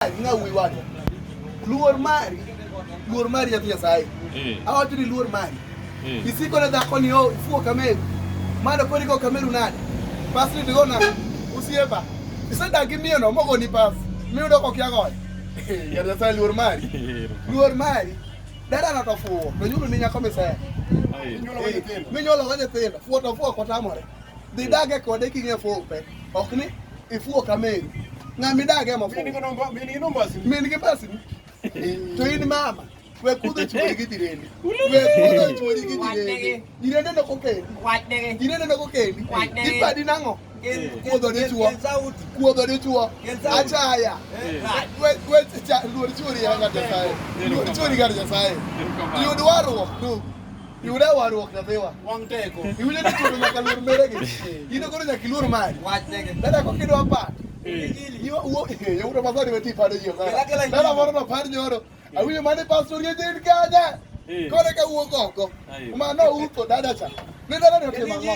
ng'a wuoyi wadwa. Luor mari, luor mari nyathi Nyasaye. Eh. Awacho ni luor mari. Eh. Isiko na dhako ni oh, ifuo kameru. Mano kori go kameru nade? Pas ni digo na usiepa. Isedagi miyo no mogo ni pas. Miyo dok ok yagoyo. Nyathi Nyasaye luor mari. Luor mari. Dada na to fuo. To nyulo ni nyako misaya. Minyuolo go nyithindo. Fuo to fuo kotamore. Dhi dage kode king'e fuo pe. Ok ni ifuo ka meri. Ng'ama idag ema fuo. Min gi nombasi. Min gi basi. To in mama. We kudho chwori gi jirende. We kudho chwori gi jirende. Jirende no kokendi. Wach dege. Jirende no kokendi. Wach dege. Ipadi nang'o? Kuodho dichuo. Kuodho dichuo. Achaya. We we luor chwori ya ng'at Nyasaye. Luor chwori ng'at Nyasaye. Yud warruok. Yuda waruok nyathiwa. Wang' teko. Iwinjo ni chuno nyaka luor mere gi. Ino koro nyaka iluor mari. Wach nege. Dada ko kidwa pat. Yo wo yo ro mazari weti pado yo. Dada moro no par nyoro. Awinjo mane pastor ye din kanya. Kore ka wuok oko. Ma no uko dada cha. Ni dada ni otimo ang'o?